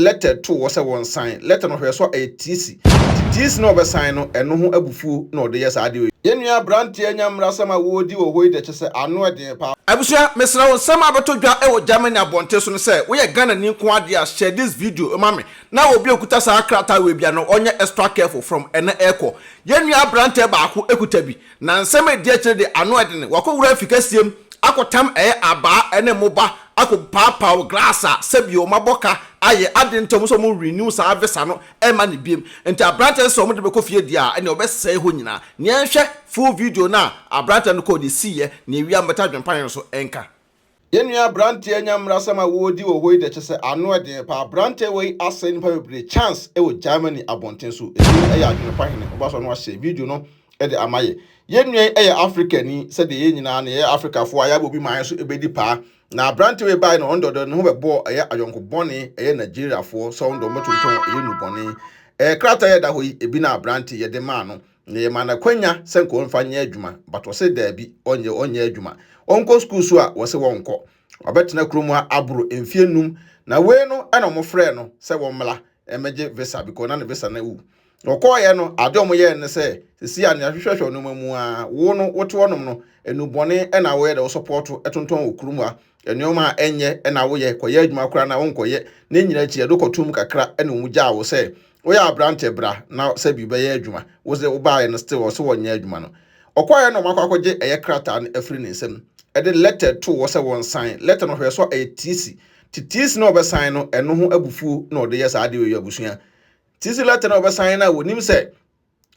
lɛtɛ too hɔ sɛ wɔnsan. Lɛtɛ no hwɛɛ so a, ɛyɛ tiisi. Enti tiisi no a ɔbɛsan no, ɛno ho abufuo na ɔde yɛ saa adeɛ yi. Yɛn nua abranteɛ nya mmarasɛm a wɔredi wɔ hɔ yi deɛ kyɛsɛ ano ɛden paa. Abusua mesrɛ wo nsɛm a abɛtɔ dwa wɔ Germany abɔnten so no sɛ woyɛ Ghanani nko ara deɛ a share this video ma me na obi a okuta saa krataa wei bia no ɔnyɛ extra careful from ɛnɛ ɛkɔ. Yɛn nua abrantɛ baako kuta bi. Na nsɛm a edi akyire de, ano ɛden. Wɔakɔwura afi kɛseɛ mu akɔtam ɛɛ abaa ne mmoba akɔpaapaw glass a sɛbi wɔn abɔ ka ayɛ ade nti wɔn nso wɔn renew saa visa no ɛmma no biom. Nti aberanteɛ no sɛ wɔn de bɛkɔ fie deɛ a ɛnneɛ wɔbɛsɛe hɔ nyinaa. Nea yɛnhwɛ full video no a aberanteɛ no kɔɔ deɛ esiiɛ, nea ewia mbɛta adwempane no so nka. Yɛn nua abranteɛ nya mmarasɛm a wɔredi wɔ hɔ yi deɛ kyɛ sɛ ano ɛden paa abranteɛ wei asɛe nipa bebree chance ɛwɔ Germany abɔnten so ɛti no ɛyɛ adwene pa hene ɔba so no ahyɛ video no ɛde ama yɛ yɛn nua yi ɛyɛ Africa ni sɛdeɛ yɛn nyinaa no yɛyɛ Africa foɔ a yɛabɔ bi maa yɛn so ɛbɛdi paa na abranteɛ wei bae no ɔno dɔdɔ ne ho bɛbɔɔ ɛyɛ ayɔnko bɔne ɛyɛ Nigeria foɔ sɛ ɔno dɔn bɛtontɔn ɛyɛ nubɔne ɛɛ krataa yɛda hɔ yi ebi na abranteɛ yɛde maa no Na yɛmaa no akwanya sɛ nka ɔmfa nyɛ adwuma, but ɔse daabi, ɔnyɛ, ɔnyɛ adwuma. Ɔnkɔ school so a, wɔse wɔnkɔ. Wabɛtena kurom ha aboro mfie nnum, na wei no na wɔfrɛɛ no sɛ wɔmmra mmɛgye visa because na ne visa no awu. Na ɔkɔeɛ no, adeɛ a wɔyɛɛ no ne sɛ, sisi a nea hwehwɛhwɛ wo nneɛma mu ara, wo no wote hɔnom no, nnubɔne na woyɛ dɛ wo support tontɔn wɔ kurom ha, nneɛma a ɛnyɛ na woyɛ, kɔyɛ adwuma koraa na wonkɔyɛ. Ne nyinaa akyi, ɛde kɔtoo mu kakra na wɔn gyaa wo sɛ woyɛ aberantɛ bra na sɛ bi bɛyɛ adwuma. Wo sɛ wobaeɛ no still ɔse wɔnyɛ adwuma no. Ɔkɔeɛ na wɔn akɔ akɔgye ɛyɛ krataa no afiri ne nsam. Ɛde letter too hɔ sɛ wɔn san. Letter no hwɛɛ so a ɛyɛ tiisi. Ti tiisi no a ɔbɛsan no ɛno ho abufuo na ɔde yɛ saa adeɛ wei abusua. Tiisi letter no a ɔbɛsan no a wɔnim sɛ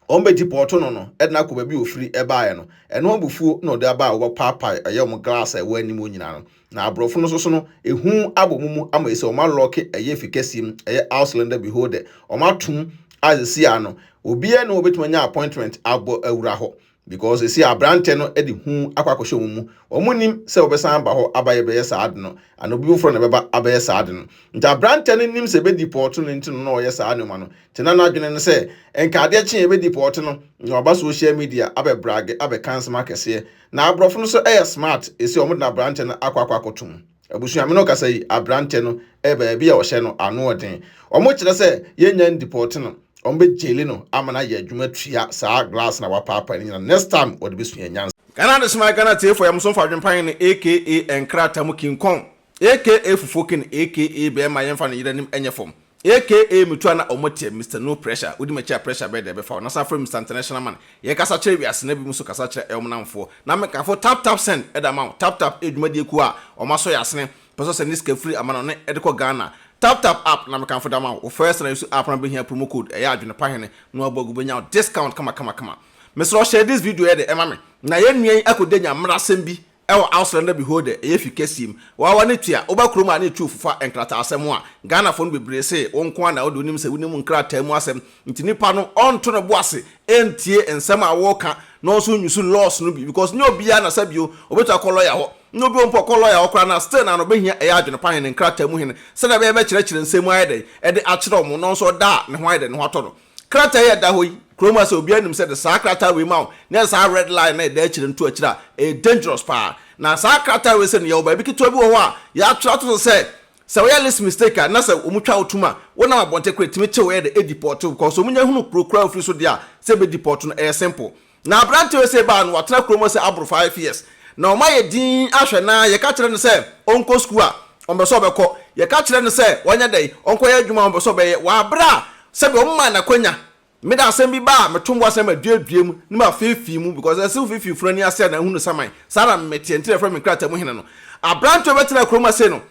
wɔn bɛgye pɔɔto no no de no akɔ baabi a ɔfiri baeɛ no. Ɛno abufuo na ɔde aba a wɔbɛpaapae ɛyɛ wɔn glass a ɛwɔ anim hɔ nyinaa no. Na aborɔfo no nso so no, ehu abɔ wɔn mu ama ɛsɛ wɔalɔɔke ɛyɛ efi kɛseɛ mu, ɛyɛ Ausländer Behörde, wɔatom adze si ano. Obiara nni hɔ a ɔbɛtumi anya appointment abɔ awura hɔ. because esi aberantɛ no de hu akɔ akɔhyɛ wɔn mu wɔn nim sɛ wɔbɛsan aba hɔ aba yɛ bɛyɛ saa ade no ana obi foforɔ na ɛbɛba abɛyɛ saa ade no nti aberantɛ no nim sɛ bɛdi pɔɔto no nti no na ɔyɛ saa nneɛma no nti na n'adwene no sɛ nka adeɛ kye yɛ bɛdi pɔɔto no na waba social media abɛ brage abɛka nsɛm akɛseɛ na aborɔfo no so ɛyɛ smart esi wɔn de na aberantɛ no akɔ akɔ akɔtom Abusuame no kasa yi aberantɛ no ɛyɛ baabi a ɔhyɛ no anoɔden. Ɔmo kyerɛ sɛ yɛnya ndipɔɔte no ɔmo bɛ gyeli no ama no ayɛ adwuma tua saa glass no a wapaapae no nyina next time ɔde bɛ sua nyansa. Ghana Adesima yɛ Ghana Atiefo Ayamuso Mfa Adwempa Hene aka Nkrata mu King Kong aka Fufuo King aka Bɛɛma Yɛnfa no Yeranim Ɛnyɛ Fam. Aka me tu a na ɔmo teɛ Mister No Pressure wodi m'akyi a pressure bɛyɛ dɛ ɛbɛfa wo na san frɛ me Mister International Man yɛ kasa kyerɛ wiase na bi mo nso kasa kyerɛ ɛwom namfoɔ na me kamfo Tap Tap Send de ama wo Tap Tap yɛ dwumadie kuo a ɔmo asɔ yɛ asene pɛ sɛ ɔsɛ ne sika firi amanɔne de kɔ Ghana Tap Tap App na me kamfo de ama wo wo first na usu app na wobɛhia promo code ɛyɛ adwene pa hene na wabɔ agu wobɛnya wo discount kama kama kama mesrɛ wo share this video yɛ dɛ ɛma me na yɛn nua yi akɔdi anya mmerɛ asɛm bi Ɛwɔ Auslander Beholder, ɛyɛ fi Kasim, Wawa ne Tua, woba kurom a na etu fofa nkrataasɛm a, Ghanafo no bebree se wo nko ara na wode wonim sɛ wonim nkrataa mu asɛm nti nipa no ɔnto ne bo ase ntie nsɛm a woreka na ɔnso nnwusu laws no bi because nyɛ obiara na sɛ bio obetu akɔ lawyer hɔ na obi ompo ɔkɔ lawyer hɔ koraa no a still na na obehia ɛyɛ adwene pa hene nkrataa mu hene sɛdeɛ ɛbɛyɛ bɛkyerɛkyerɛ nsɛm mu ayɛ dɛn ɛde akyerɛ wɔn na ɔnso ɔda a ne ho ayɛ dɛn ne ho atɔ no Krataa yi a ɛda hɔ yi, kurom ha sɛ obiara nim sɛ de saa krataa wei ma wo na yɛ saa red line na ɛda akyire no to akyire a, ɛyɛ dangerous paa. Na saa krataa wei sɛ no yɛwɔ baabi ketewa bi wɔ hɔ a yɛatwerɛ ato so sɛ, sɛ woyɛ list mistake a na sɛ wɔn twa wo tom a, wonam abɔnten koraa ɛtumi kye wo ɛyɛ dɛ ɛdeport wo because wɔn nya hunu kuro koraa a wofiri so deɛ a sɛ ɛbɛ deport no ɛyɛ simple. Na aberante wei sei baa no, watena kurom hɔ sɛ aboro five years. Na wɔn ayɛ dinn ahwɛ no ara, yɛka kyerɛ no sɛ ɔnkɔ sukuu a, ɔmpɛ sɛ ɔbɛkɔ. Yɛka kyerɛ no sɛ ɔnyɛ dɛn, ɔnkɔyɛ adwuma a, ɔmpɛ sɛ ɔbɛyɛ. Wɔ aberɛ a sɛdeɛ wɔmaa no akwanya, me de asɛm bi ba a, meto bo asɛm a ɛduadua mu, na mafeefee mu, because ɛsɛ sɛ wofeefee funu ani ase a na ahu no saman. Saa na meteɛ, nti na wɔfrɛ me nkrataa mu hene no. Aberante wei bɛtenaa kurom ha sei no,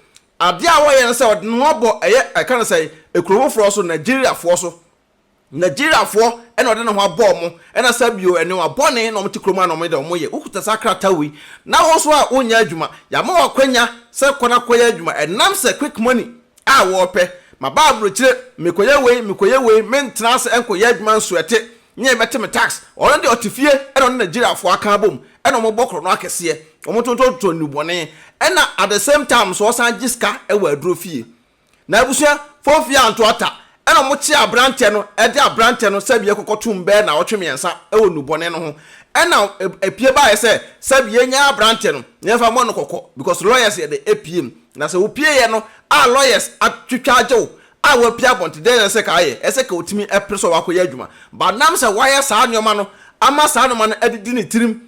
adeɛ a ɔyɛ ne sɛ ɔde ne ho abɔ ɛyɛ, yɛka no sɛn, ekuro foforɔ so, Nigeriafoɔ so. Nigeriafoɔ na ɔde ne ho abɔ wɔn na saa bio ɛnewa bɔne na wɔte kurom a na wɔn de wɔn yɛ. Wokuta saa krataa wei na wo nso a wonyɛ adwuma, yɛama wo akwanya sɛ kɔ na kɔyɛ adwuma ɛnam sɛ quick money a wɔpɛ. Maba abrokyire, mekɔyɛ wei, mekɔyɛ wei, mentena ase nkɔyɛ adwuma nso ɛte nyɛ bɛte me tax. Ɔno deɛ ɔte fie na ɔne Nigeriafoɔ aka abom na wɔbɔ korɔno akɛseɛ, wɔtontɔn totɔ nnubɔne na at the same time nso ɔsan gye sika wɔ aduro fie. Na abusua fo mfeɛ anto ata ɛna ɔmo kye abranteɛ no ɛde abranteɛ no sɛbie kɔkɔ tum bɛɛ naawɔtwe miɛnsa ɛwɔ nubɔne no ho ɛna ɛpie baeɛ sɛ sɛbie yɛnyae abranteɛ no na yɛnfa mmɔ no kɔkɔ because lawyers yɛde ɛpie mu na sɛ wopieɛ no a lawyers atwitwa agye wo a wapie abɔnte dɛn na ɛsɛ ka ayɛ ɛsɛ ka otumi ɛpere sɛ wakɔ yɛ adwuma but nam sɛ wayɛ saa nnoɔma no ama saa nnoɔma no adidi ne tirim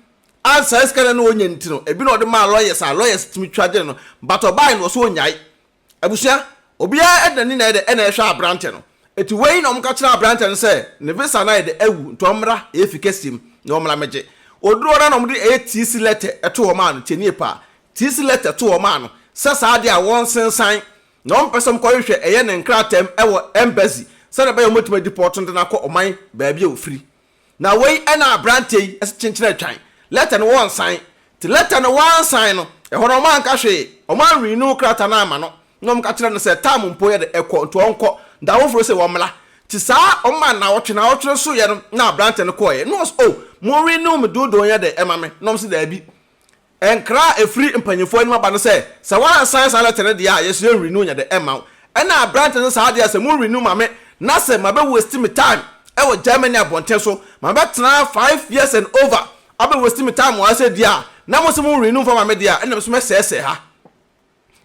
a saa sika no na ɔnya nti no ɛbi na ɔde maa lawyers a lawyers tumi twa gye no but ɔbaeɛ no ɔsɛ ɔnyae Abusua, obiara ɛde n'ani na ɛyɛ dɛ ɛna ɛhwɛ aberantɛ no. Eti wei na wɔka kyerɛ aberantɛ no sɛ ne visa no ayɛ dɛ awu nti ɔmmra efi kɛseɛ mu na ɔmmra mmɛgye. Ɔduru hɔ no na wɔde ɛyɛ tiisi lɛtɛ ɛto hɔ maa no, tie nie paa, tiisi lɛtɛ to hɔ maa no sɛ saa adeɛ a wɔnsensan na wɔmpɛ sɛ wɔkɔhwehwɛ ɛyɛ ne nkrataa mu ɛwɔ embassy sɛdeɛ ɛbɛyɛ wɔbɛtumi adipɔɔto no de no akɔ ɔman baabi a ɔfiri. Na wei na aberanteɛ yi kyenkyerɛ twan lɛta no wɔnsan. Nti lɛta no wansan no, ɛhɔ no wɔanka hwee, wɔanrenew krataa no amma no, na wɔka kyerɛɛ no sɛ tam mpo yɛ dɛ, ɛkɔ, nti ɔnkɔ, da foforo sɛ wɔmmra. Nti saa wɔmaa no naawɔtwe, naawɔtwe no soeɛ no na aberanteɛ no kɔeɛ, na wɔse oh monrenew me doodoo nyɛ dɛ mma me, na wɔse daabi, Nkra a ɛfiri mpanyimfoɔ anim aba ne sɛ, Sɛ woansan saa lɛtɛ no deɛ a, yɛsrɛ renew nyɛ dɛ mma wo. Ɛna aberante no saa deɛ a, sɛ mo renew ma me na sɛ mabɛ waste me time wɔ Germany abɔnten so, mabɛtena ha five years and over abɛ waste me time wɔ ha sɛ deɛ a, na mose mo renew mfa ma me deɛ a, ɛna me nso mɛsɛɛsɛɛ ha.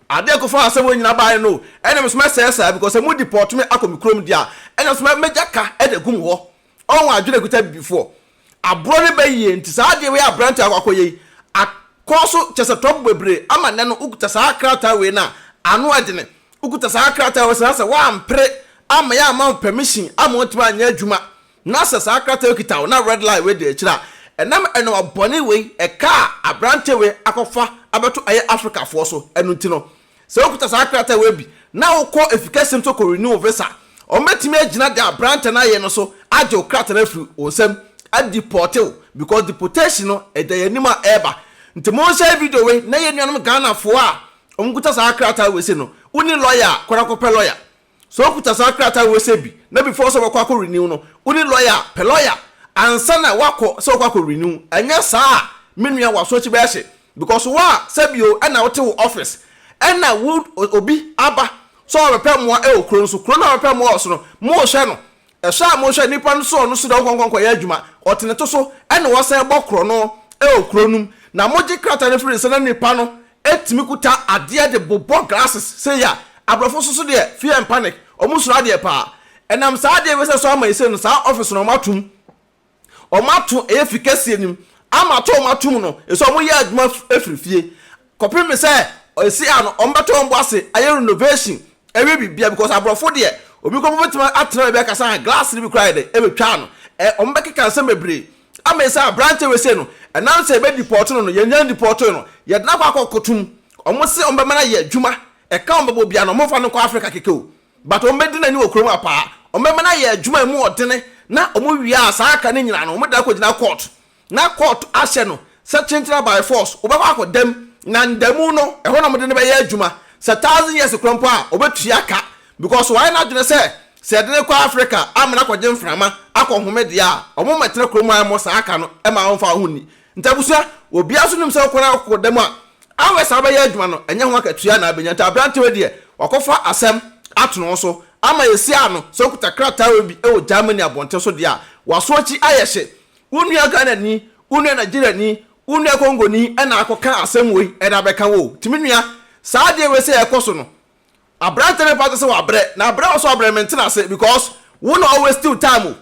Ade a ɛkɔfaa asɛm wei nyinaa baeɛ no, ɛnna me nso mɛsɛe saa, because sɛ mo deport me akɔ me kurom deɛ a, ɛnna nso mɛ, mɛgya ka de agu mo hɔ. Ɔho adwene a ɛkuta Abibifoɔ. Aborɔ no bɛ yie, nti saa adeɛ wei a aberanteɛ akɔ akɔyɛ yi, akɔ so, kyerɛ sɛ trouble bebree, ama nnɛ no wokuta saa krataa wei no a, ano ɛdene. Wokuta saa krataa wei saa sɛ woampere, amma yɛamma wo permission, amma woantumi anyɛ adwuma, Na sɛ saa krataa yi kita wo na red line wei di akyire a, ɛnam ɛnoa bɔne wei ɛka a aberanteɛ wei akɔfa abɛto ɛyɛ Africafoɔ so ɛno nti no, sɛ wokuta saa krataa wei bi na wokɔ afikɛseɛ no so kɔ renew wo visa a, wɔbɛtumi agyina deɛ aberanteɛ no ayɛ no so agye wo krataa no afiri wo nsam adipɔɔte wo because deportation no ɛda yɛn anim a ɛreba. Nti monhyɛ video wei na yɛn nuanom Ghanafoɔ a wɔkuta saa krataa wei sei no, wonni lɔya a, kɔ na kɔpɛ lɔya. Sɛ wokuta saa krataa wei sɛ bi na before sɛ wobɛkɔ akɔ renew no wo ne lawyer a, pɛ lawyer ansa na woakɔ sɛ wokɔ akɔ renew. Ɛnyɛ saa a me nua w'aso akyi bɛyɛ hye because wo a sɛ bi o ɛna wote wo office ɛna wo obi aba sɛ ɔbɛpɛ mmoa ɛwɔ kuro no so, kuro no a ɔbɛpɛ mmoa wɔ so no mo rehwɛ no Ɛsɔ a mohwɛ nnipa no soɔ no so dɛ wɔkɔ nkɔnkɔyɛ adwuma wɔ tenete so na wɔsan bɔ korɔno wɔ kuro no mu, na mogye krataa no firi nsa na nnipa no tumi kuta adeɛ de bobɔ glasses sei a abrɔfo nso so deɛ fear and panic, wɔn suro adeɛ paa. Ɛnam saa adeɛ wei sɛ ɛsɔ ama yi sei no saa office no wɔato mu. wɔato efi kɛseɛ no mu, ama atɔ wɔn atom no, ɛsɛ wɔn yɛ adwuma firi fie, kɔpem sɛ ɛsi a no wɔn bɛtɔ wɔn bo ase ayɛ renovation, ayɛ biribiara, because aborɔfo deɛ, obi koraa bɛtumi atena baabi akasa a, glass no bi koraa ayɛ dɛn, ɛbɛtwa ano, ɛ, wɔn bɛkeka nsɛm bebree, ama ɛsi a aberanteɛ wei sei no, ɛnam sɛ yɛbɛ deport no no, yɛn nyan deportee no, yɛde no akɔ akɔto mu, wɔn se wɔn bɛma no ayɛ adwuma, ɛka wɔn bɛbɔ biara no, wɔn mfa no nkɔ Africa kɛkɛ o. But wɔn bɛdi n'ani wɔ kurom ha paa. Wɔn bɛma no ayɛ adwuma a ɛmu ɔdene na wɔn wie a saa aka no nyinaa no wɔn de akɔ gyina court na court ahyɛ no sɛ kyenkyena by force wɔbɛkɔ akɔ da mu na nda mu no ɛhɔ na wɔn de no bɛyɛ adwuma sɛ thousand years korɔ mpo a ɔbɛtua ka because wayɛ n'adwene sɛ sɛ yɛde no kɔ Africa ama no akɔgye mframa akɔ home deɛ a wɔn mmɛtena kurom ha mmɔ saa aka no mma wɔmfa wɔn ho nni Nti abusua, obiara nso nim sɛ wokɔ na wokɔ dɛm a, hours a wobɛyɛ adwuma no, ɛnyɛ ho akatua na abɛnya. Nti aberante wei deɛ, wakɔfa asɛm ato ne ho so ama yɛasi ano. Sɛ wokuta krataa wei bi wɔ Germany abɔnten so deɛ a, w'aso akyi ayɛ hye. Wo nua Ghanani, wo nua Nigeriani, wo nua Congoni na akɔka asɛm wei de abɛka wo o. Nti me nua, saa adeɛ wei sɛ ɛrekɔ so no, aberante no mfa nkyɛ sɛ wabrɛ, na berɛ a ɔwɔ sɛ ɔbrɛ no, mente no ase because wo na wo waste wo time o.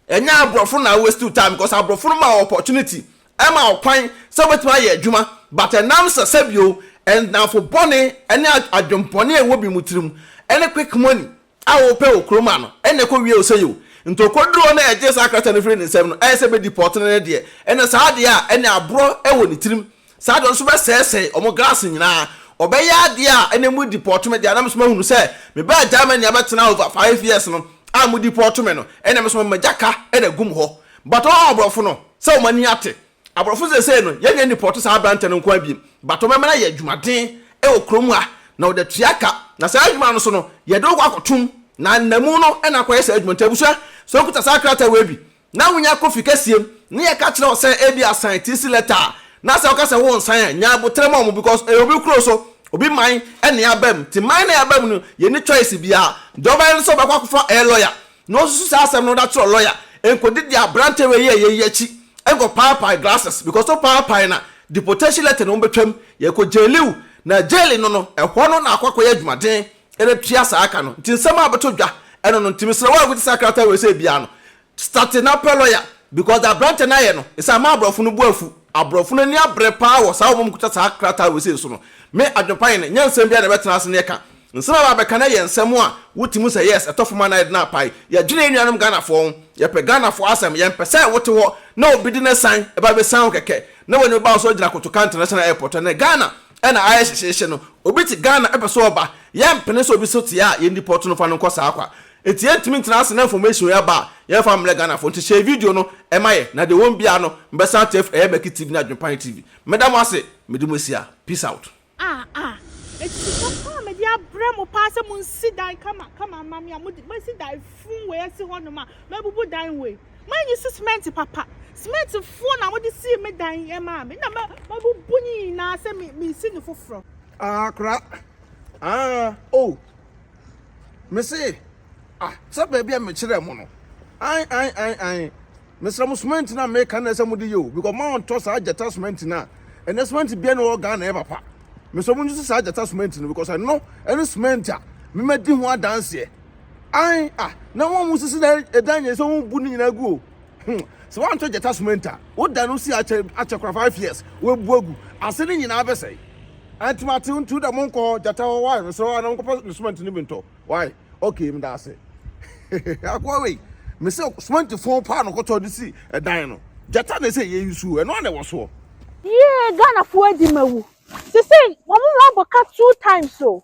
Ɛnyɛ aborɔfo na waste time because aborɔfo no ma opportunity, ɛma ɔkwan sɛ wobɛtumi ayɛ adwuma but ɛnam sɛ sɛbio nnamfo bɔne ne adwenbɔne a ɛwɔ bi mu tirim ne quick money a wɔpɛ wɔ kurom ano ɛna ɛkɔ wie wo sɛi o. Nti ɔkɔduru hɔ na ɛgye saa krataa no firi ne nsam no ayɛ sɛ bɛ deport no ne deɛ ɛna saa adeɛ a ɛne aborɔ wɔ ne tirim Saa deɛ nso bɛsɛesɛe wɔn glass nyinaa. Wɔbɛyɛ adeɛ a ɛnɛ mo deport me deɛ na me so mahunu sɛ me baa Germany abɛtena over five years no a mo deport me no ɛnɛ me so magya ka na agum hɔ but wɔn aborɔfo no sɛ wɔn ani ate aborɔfo seesei no yɛnnya ndeport saa aberantɛ no nkoa biem but wɔbɛma no ayɛ adwumaden wɔ kurom ha na wɔde atua ka na saa adwuma no so no yɛde wo kɔ akɔtom na nnamu no na akɔyɛ saa adwuma nti abusua sɛ wokuta saa krataa wei bi na wunya kɔ fi kɛseɛ mu na yɛka kyerɛ wo sɛ ebia sign TC letter a, na sɛ woka sɛ wonsan a, nya aboterɛ ma wɔn because ɛyɛ obi kuro so, obi man na yɛaba mu. Nti man na yɛaba mu no, yɛnni choice biara. Deɛ ɔbɛyɛ ne sɛ ɔbɛkɔ akɔfa ɛyɛ lawyer na wasusu saa asɛm no de akyerɛ lawyer, nkɔdi deɛ aberante wei yɛeɛ yi akyi nkɔpaapae glasses because wopaapae no a, deportation letter na wɔbɛtwam, yɛkɔ jaili wo, na jaili no no, ɛhɔ no na akɔ akɔyɛ adwumaden. Ɛna tua saa ka no nti nsɛm a bɛto dwa ɛno no nti mesrɛ wo a wobɛte saa krataa wei sɛ biaa no starte na pɛ lɔya because deɛ abrantɛ no ayɛ no ɛsɛ ama abrɔfo no bo afu abrɔfo no ani abrɛ paa wɔ saa wɔn kuta saa krataa wei sei so no me adwenpa yɛ no nyɛ nsɛm biaa na ɛbɛtena ase ne ɛka nsɛm a bɛabɛka no ɛyɛ nsɛm a wote mu sɛ yes ɛtɔ fam anaa yɛde no apae yɛdwene yɛn nuanom Ghanafoɔ ho yɛpɛ Ghanafoɔ asɛm yɛmpɛ sɛ wote hɔ na obi de ne san ɛba bɛsian wo kɛkɛ na w'ani bɛba wo so agyina kotoka international airport ɛnɛ Ghana Ɛna ayɛ hyehyeehye no obi te Ghana pɛ sɛ ɔba yɛmpene sɛ obi so teɛ a yɛn deport no fa no nkɔ saa kwa nti yɛntumi ntena ase na information yi aba a yɛmfa mmrɛ Ghanafoɔ nti share video no ma yɛn na deɛ wɔn biara no mbɛsan tef ɛyɛ Mɛki TV ne Adwenpan TV meda mo ase mede mo asia peace out. Ah ah Enti sika paa a mede abrɛ mo paa sɛ monsi dan kama kama mma me a mode, moasi dan fuu wei asi hɔnom a mabubu dan wei. Manyi si semɛnte papa. Semɛntefoɔ na wɔde sii me dan yi maa me. Nna mabubu ne nyinaa sɛ meresi no foforɔ. Ah kora ah oh mese ah sɛ baabi a mekyerɛɛ mo no an an an an mesrɛ mo semɛnte no a meka no sɛ mode yɛ o because moantɔ saa gyata semɛnte no a ɛnɛ semɛnte bia na ɛwɔ Ghana yɛ papa mesrɛ mo nyi si saa gyata semɛnte no because ɛno ɛne semɛnte a memadi ho adanseɛ Ae ah na wɔn mu sisi dan ɛdan nyɛ sɛ wɔn bu ne nyinaa gu o. Hmm sɛ wɔn antɔ gyata sumenta wo da no si akyɛ akyɛ kora five years wɔn bu agu ase ne nyinaa bɛsɛe. Ɛntumi ate ntu da mo nkɔ hɔ gyata hɔ wae mesrɛ wɔn anam kɔpɛ ne sumenta ne bi ntɔ wae okay meda ase. Akoa wei mesɛ sumenta fon paa no kɔtɔ de si ɛdan no gyata na ɛsɛ yɛ yi suo ɛno ana ɛwɔ soɔ. Yee Ghana foɔ adi ma wu. Sisei wɔn mu abɔ ka two times o.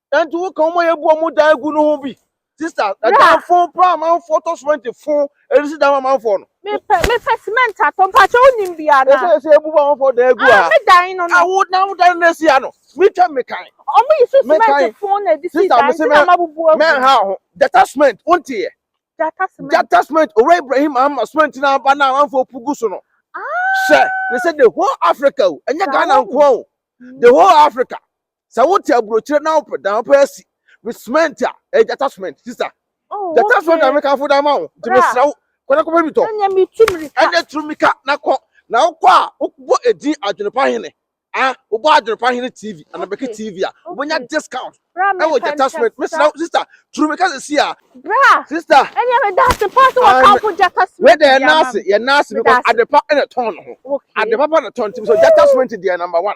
Nanti wo ka wɔn a yɛbu wɔn dan gu no ho bi. Sista, na dan fo paa amanfoɔ tɔ cement fo ɛresi dan ma amanfoɔ no. Mepɛ mepɛ cement atɔ mpakyɛ wonim bi ana. Ɛsɛ ɛsɛ ebu ba amanfoɔ dan gu ha. Ah me dan no no. Awo na wo dan no esi ha no. Mitwa mekan. Ɔmo yi so cement fo na edi si dan ti na ma bubu agu. Mɛ ha ho. Jata cement wonti yɛ. Jata cement. Jata cement owura Ibrahim ama cement na aba na amanfoɔ pu gu so no. Ah. Sɛ ne sɛ the whole Africa o ɛnyɛ Ghana nko o. The whole Africa. Sɛ wote aburokyire na wopɛ dan wopɛ asi with cement a ɛyɛ gyata cement sister. Oh, gyata okay. cement na meka fo dan ma wo nti mesrɛ wo kɔ na kɔpɛ bi tɔ. Ɛnyɛ mi tu mirika. Ɛnyɛ tu mirika na kɔ na wokɔ a wobɔ edin adwenepa hene ah wobɔ adwenepa hene tv anabɛki okay. tv a wobɛnya okay. discount ɛwɔ gyata cement mesrɛ wo sister tu mirika sisi a. bra sister ɛnyɛ mi daase paase wɔ kan fo gyata cement deɛ ɛnaase yɛ naase because adepa ɛna tɔn no ho adepa pa na tɔn ti so gyata cement deɛ number one.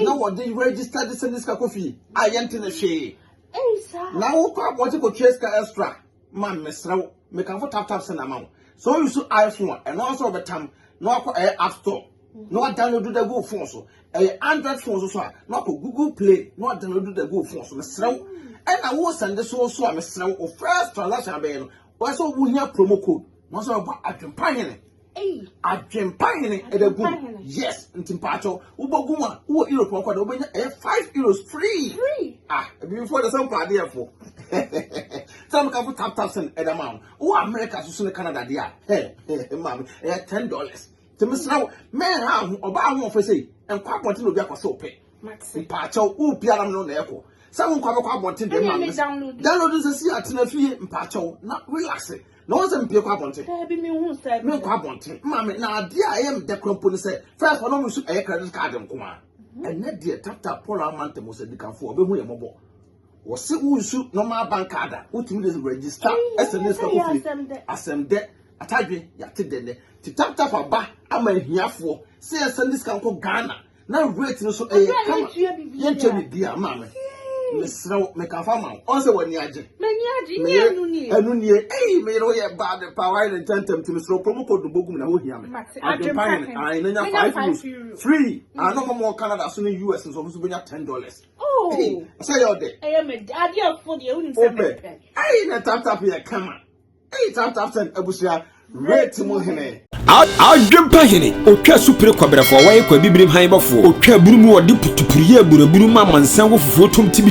na wɔde register de sɛ ne sika kɔ fie a yɛnte ne hwee na wokɔ abɔgye kɔtua sika extra ma mesrɛ wo mekamfo taptap sɛ na ma wo sɛ woyi so iphone a ɛno nso wɔbɛtam na wakɔ ɛyɛ app store na wadownload da gu phone so ɛyɛ android phone so so a na wakɔ google play na wadownload da gu phone so mesrɛ wo ɛna wo sɛnde so so a mesrɛ wo first transaction abɛyɛ no wɔsɛ wohia promo code na wɔsɛ wɔbɔ adwempa hene Adwempa hene ɛda gu yes nti mpaatɔ wobɛgu mu a wowɔ euro pɔn kɔda wobɛnya ɛyɛ five euros free ah ebibifoɔ de sɛ mpa adeɛfoɔ sɛ meka fo tap tap sɛn ɛda ma wo wowɔ america so so ne canada deɛ a hɛ hɛ maame ɛyɛ ten dollars nti mesrɛ wo mɛnha ho ɔbaa ho ɔfɛ sei nkɔ abɔnten na obi akɔ sɛ ɔpɛ mpaatɔ wopia nam no na ɛkɔ sɛ wonkɔ abɛkɔ abɔnten deɛ maame download nsɛ si atena fie mpaatɔ na relaxe na wɔn sɛ mpie kɔ abɔnten daabi mi hu style mi nkɔ abɔnten maame na adeɛ a ɛyɛ mdɛ kura mpo ne sɛ fɛn kɔ na wɔn nso ɛyɛ credit card nko a mhm. ɛnɛ deɛ tata paul amante mo sɛ dikanfo ɔbɛhu yɛ mɔbɔ wɔsi wusu normal bank card a wotumi de register ɛsɛ ne sika kofie asɛm dɛ atadwe yate dɛ dɛ ti tap tap aba ama ahiafoɔ sɛ yɛsɛ ne sika nkɔ ghana na rate no so ɛyɛ kama yɛntua biribiara maa me mesrɛ wo meka fa ma wo ɔn sɛ w'ani agye ɛno nie ei meyere woyɛ bad pa wayɛ ne ntɛntɛm nti mesrɛ promo code no bɔgum na wohia me adwempa hene ae na nya 5 euros free ano ma mɔ canada so ne us nsɔfo so bɛnya 10 dollars sɛ yɛ ɔdɛ wopɛ ei na taptap yɛ kama Eyi tap tap send abusua rate mu hene. Adwempa hene, otwa su pere kɔbrɛfoɔ, wɔyɛ kɔ abibirim han bɔfoɔ, otwa aburu mu ɔde putupuru yɛ aburaburu ma amansan wɔ fufuo tom tibidi.